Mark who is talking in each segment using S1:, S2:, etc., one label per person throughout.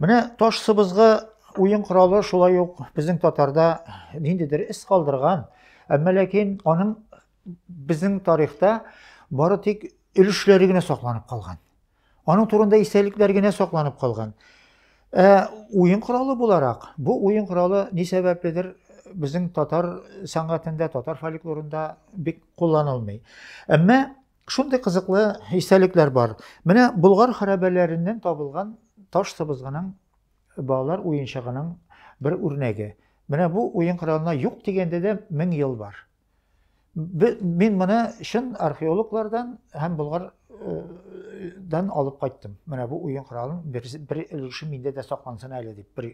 S1: Менә таш сыбызгы уен коралы шулай ук безнең татарда ниндидер эз калдырган, әмма ләкин аның безнең тарихта бары тик өлешләре генә сакланып калган. Аның турында истәлекләр генә сакланып калган. Ә уен коралы буларак, бу уен коралы ни сәбәпледер безнең татар сәнгатендә, татар фольклорында бик кулланылмый. Әмма Шундый кызыклы истәлекләр бар. Менә Болгар хәрабәләреннән табылган таш сыбызгының балалар уенчыгының бер үрнәге. Менә бу уен коралына юк дигәндә дә 1000 ел бар. Мин моны чын археологлардан һәм Болгар дан алып кайттым. Менә бу уен коралын бер өлеше миндә дә саклансын әле дип, бер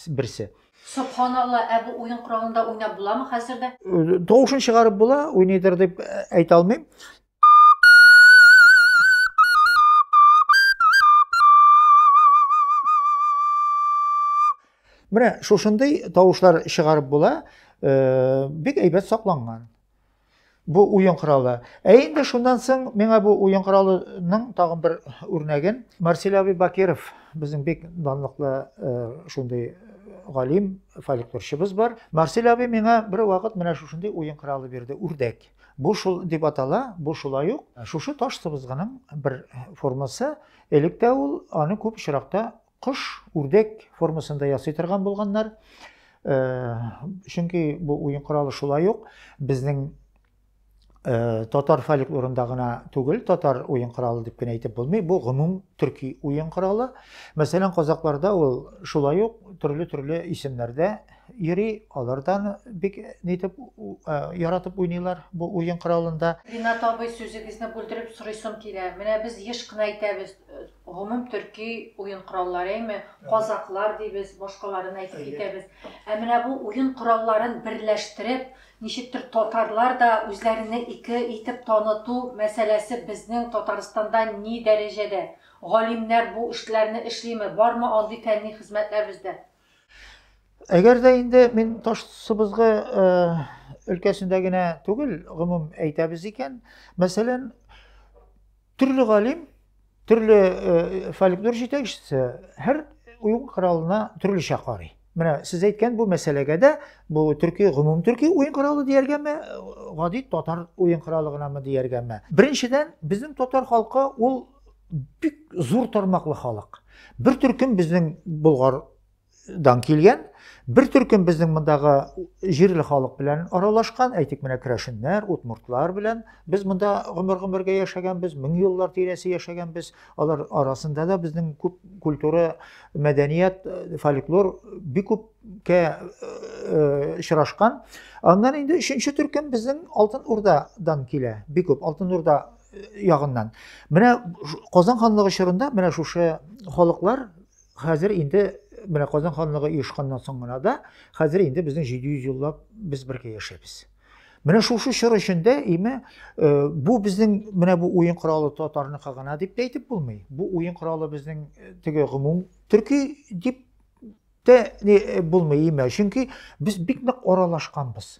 S1: берсе. Собханалла,
S2: ә бу уен коралында уйнап буламы хәзер дә? Тавышын чыгарып
S1: була, уйныйдыр дип әйтә алмыйм. Менә шушындый тавышлар чыгарып була, бик әйбәт сакланган. Бу уен коралы. Ә инде шуннан соң миңа бу уен коралының тагын бер үрнәген Марсель абый Бакиров безнең бик данлыклы э, шундый э, галим фольклорчыбыз бар. Марсель абый миңа бер вакыт менә шушындый уен коралы бирде, үрдәк. Бу шул дип атала, бу шулай ук шушы таш сыбызгының бер формасы. Электә ул аны күп очракта Кош, үрдәк формасында ясый торган булганнар. Чөнки бу уен коралы шулай ук безнең Э, татар фольклорында гына түгел, татар уен коралы дип кенә әйтеп булмый, бу гомум төрки уен коралы. Мәсәлән, казакларда ул шулай ук төрле-төрле исемнәрдә йөри, алардан бик нитеп э, яратып уйныйлар бу уен коралында. Ринат абый
S2: сүзегезне бүлдереп сорыйсым килә. Менә без еш кына әйтәбез, Гомум төрки уен коралларыймы, казаклар дибез, башкаларын әйтеп китәбез. Ә менә бу уен коралларын берләштереп, ничектер татарлар да үзләренне ике итеп таныту мәсьәләсе безнең Татарстанда ни дәрәҗәдә? Галимнәр бу эшләрне эшлиме, бармы андый фәнни хезмәтләр бездә?
S1: Әгәр дә инде мин таш сыбызгы э, өлкәсендә генә түгел, гомум әйтәбез икән, мәсәлән, төрле галим, төрле э, фольклор җитәкчесе һәр уен коралына төрлечә карый. Менә сез әйткән бу мәсьәләгә дә бу төрки гомум төрки уен коралы дияргәме, гади татар уен коралы гынамы дияргәме? Беренчедән, безнең татар халкы ул бик зур тармаклы халык. Бер төркем безнең Болгардан килгән, бер төркем безнең мондагы җирле халык белән аралашкан, әйтик менә крәшеннәр, утмуртлар белән. Без монда гомер-гомергә яшәгәнбез, мең еллар тирәсе яшәгәнбез. Алар арасында да безнең күп культура, мәдәният, фольклор бик күпкә очрашкан. Аннан инде өченче төркем безнең Алтын Урдадан килә. Бик күп Алтын Урда ягыннан. Менә Казан ханлыгы чорында менә шушы халыклар хәзер инде менә Казан ханлыгы оешканнан соң гына да хәзер инде безнең 700 еллап без бергә яшәбез. Менә шушы чор эчендә име э, бу безнең менә бу уен коралы татарныкы гына дип тә әйтеп булмый. Бу уен коралы безнең э, теге гомум төрки дип тә э, булмый име. Чөнки без бик нык аралашканбыз.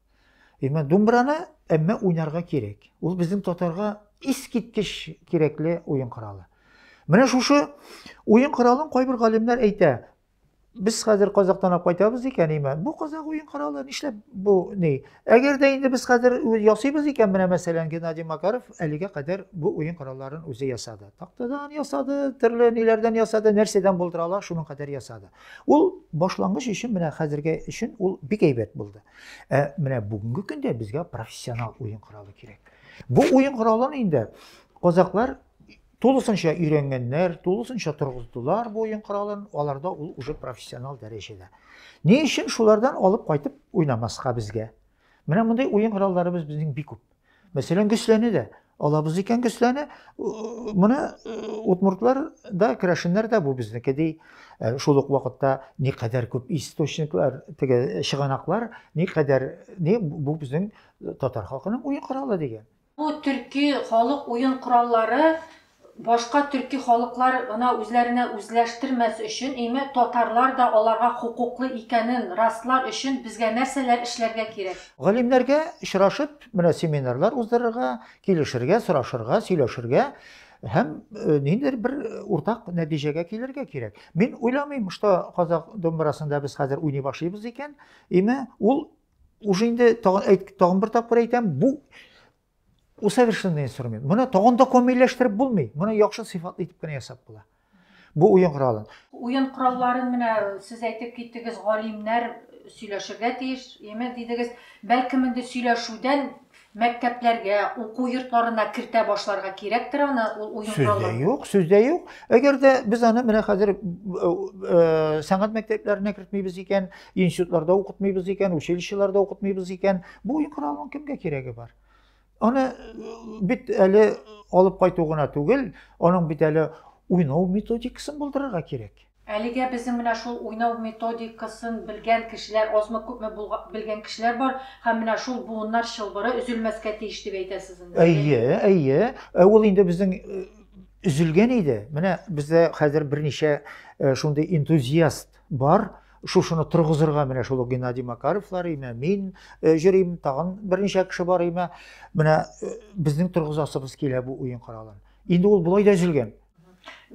S1: Әмма думбраны әмма уйнарга кирәк. Ул безнең татарга искиткеч кирәкле уен коралы. Менә шушы уен коралын кайбер галимнәр әйтә. Без хәзер казактан алып кайтабыз икән, имә. Бу казак уен коралы нишләп бу ни? Әгәр дә инде без хәзер ясыйбыз икән, менә мәсәлән Геннадий Макаров әлегә кадәр бу уен коралларын үзе ясады. Тактадан ясады, төрле ниләрдән ясады, нәрсәдән булдыра ала, шуның кадәр ясады. Ул башлангыч өчен менә хәзергә өчен ул бик әйбәт булды. Ә менә бүгенге көндә безгә профессионал уен коралы кирәк. Бу уен коралын инде казаклар тулысынча өйрәнгәннәр, тулысынча торгыздылар бу уен коралын, аларда ул уже профессионал дәрәҗәдә. Ни өчен шулардан алып кайтып уйнамаска безгә? Менә мондый уен коралларыбыз безнең бик күп. Мәсәлән, Гөсләне дә алабыз икән Гөсләне, моны удмуртлар да, керәшеннәр дә бу безнеке ди. Ә шул ук вакытта ни кадәр күп источниклар, теге чыганаклар, ни кадәр ни бу безнең татар халкының уен коралы дигән. Бу
S2: төрки халык уен кораллары Башка төрки халыклар гына үзләренә үзләштермәс өчен, име, татарлар да аларга хокуклы икәнен раслар өчен безгә нәрсәләр эшләргә кирәк? Галимнәргә
S1: очрашып, менә семинарлар уздырырга, килешергә, сорашырга, сөйләшергә һәм ниндидер бер уртак нәтиҗәгә килергә кирәк. Мин уйламыйм, что казак домбырасында без хәзер уйный башлыйбыз икән, име, ул уже инде тагын бер тапкыр әйтәм, бу Усовершенный инструмент. Моны тагын да камилләштереп булмый. Моны яхшы сыйфатлы итеп кенә ясап була. Бу уен коралын. Уен коралларын
S2: менә сез әйтеп киттегез, галимнәр сөйләшергә тиеш, яме дидегез. Бәлкем инде сөйләшүдән мәктәпләргә, уку йортларына кертә башларга кирәктер аны, ул уен коралы. Сүздә юк, сүздә юк.
S1: Әгәр дә без аны менә хәзер э, э, сәнгать мәктәпләренә кертмибез икән, Институтларда укытмыйбыз икән, училищеларда укытмыйбыз икән. Бу уен коралының кемгә кирәге бар? Аны э, бит әле алып кайту гына түгел, аның бит әле уйнау методикасын булдырырга кирәк. Әлегә безнең менә
S2: шул уйнау методикасын белгән кешеләр азмы күпме белгән кешеләр бар һәм менә шул буыннар чылбыры өзелмәскә тиеш дип әйтәсез инде. Әйе, әйе.
S1: Ә ул инде безнең э, өзелгән иде. Менә бездә хәзер берничә э, шундый энтузиаст Бар, шушыны торгызырга менә шул Геннадий Макаровлар имә, мин э, җөрим, тагын берничә кеше бар имә. Менә э, безнең торгызасыбыз килә бу уен коралын. Инде ул болай да өзелгән.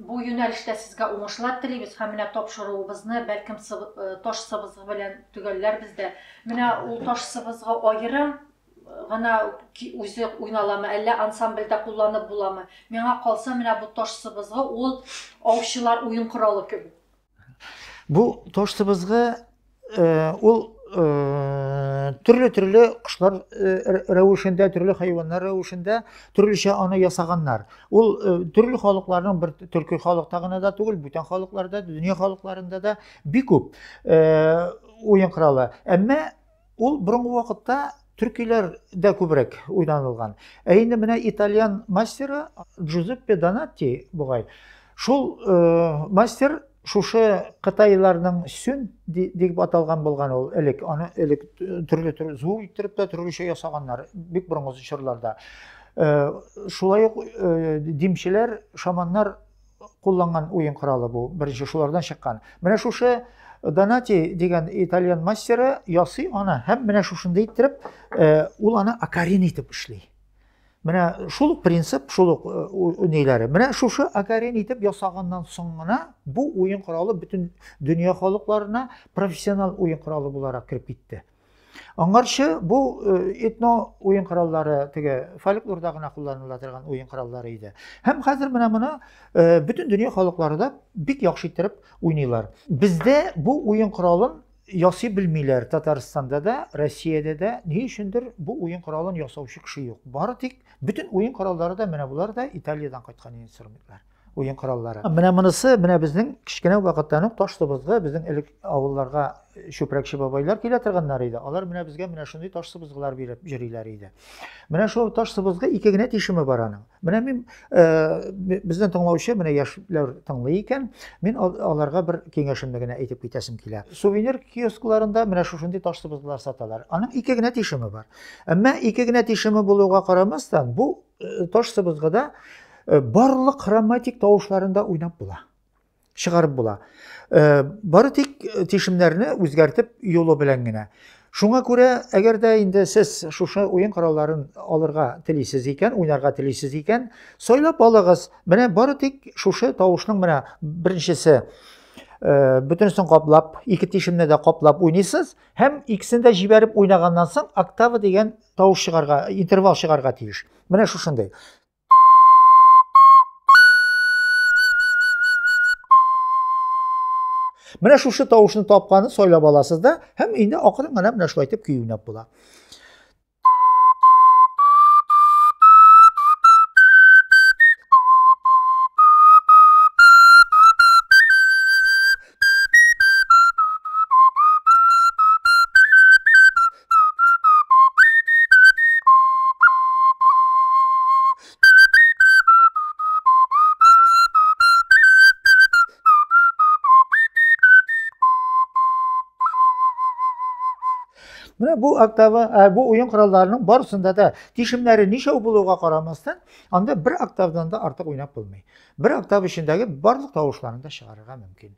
S1: Бу
S2: юнәлештә сезгә уңышлар телибез һәм менә тапшыруыбызны бәлкем э, таш сыбызгы белән төгәлләрбез дә. Менә ул таш сыбызгы аерым гына үзе уйналамы, әллә ансамбльдә кулланып буламы? Миңа калса, менә бу таш сыбызгы ул аучылар уен коралы кебек. Бу
S1: таш сыбызгы ул төрле-төрле кошлар рәвешендә, төрле хайваннар рәвешендә төрлечә аны ясаганнар. Ул төрле халыкларның бер төрки халыкта гына да түгел, бүтән халыкларда, дөнья халыкларында да бик күп уен коралы. Әмма Ул борынгы вакытта төркиләрдә күбрәк уйнанылган. Ә инде менә итальян мастеры Джузеппе Донатти бугай. Шул э, мастер шушы кытайларның сүн дип аталган булган ул элек. Аны элек төрле төрле зур иттереп тә төрлечә ясаганнар бик борынгы чорларда. Э, шулай ук э, димчеләр, шаманнар кулланган уен коралы бу. Беренче шулардан чыккан. Менә шушы Донати дигән итальян мастеры ясый аны һәм менә шушында иттереп э, ул аны акарин итеп эшли. Менә шул принцип, шул ук э, ниләре. Менә шушы акарин итеп ясаганнан соң гына бу уен коралы бөтен дөнья халыкларына профессионал уен коралы буларак кереп китте. Аңарчы бу э, этно уен кораллары теге фольклорда гына кулланыла торган уен кораллары иде. Һәм хәзер менә моны э, бөтен дөнья халыклары да бик яхшы иттереп уйныйлар. Бездә бу уен коралын ясый белмиләр Татарстанда да, Россиядә дә. Ни өчендер бу уен коралын ясаучы кеше юк. Бары тик бөтен уен кораллары да менә булар да Италиядән кайткан инструментлар. уен кораллары. Менә монысы, менә безнең кечкенә вакыттан ук таш сыбызгы, безнең элек авылларга чүпрәкче бабайлар килә торганнар иде. Алар менә безгә менә шундый таш сыбызгылар биреп җөриләр иде. Менә шул таш сыбызгы ике генә тишеме бар аның. Менә мин э, бездән тыңлаучы, менә яшьләр тыңлый икән, мин аларга бер киңәшемне генә әйтеп китәсем килә. Сувенир киоскларында менә шушындый таш сыбызгылар саталар. Аның ике генә тишеме бар. Әмма ике генә тишеме булуга карамастан, бу Э, таш сыбызгыда э, барлык хроматик тавышларында уйнап була чыгарып була э, бары тик тишемнәрне үзгәртеп юлы белән генә шуңа күрә әгәр дә инде сез шушы уен коралларын алырга телисез икән уйнарга телисез икән сайлап алыгыз менә бары тик шушы тавышның менә беренчесе бөтенесен каплап ике тишемне дә каплап уйныйсыз һәм икесен дә җибәреп уйнаганнан соң октава дигән тавыш чыгарга, интервал чыгарга тиеш. Менә шушындый. Менә шушы тавышны тапканын сайлап аласыз да, һәм инде акрын гына менә шулай итеп көй уйнап була. Менә бу октава, ә, бу уен коралларының барысында да тишемнәре ничәү булуга карамастан, анда бер октавдан да артык уйнап булмый. Бер октав эчендәге барлык тавышларны да чыгарырга мөмкин.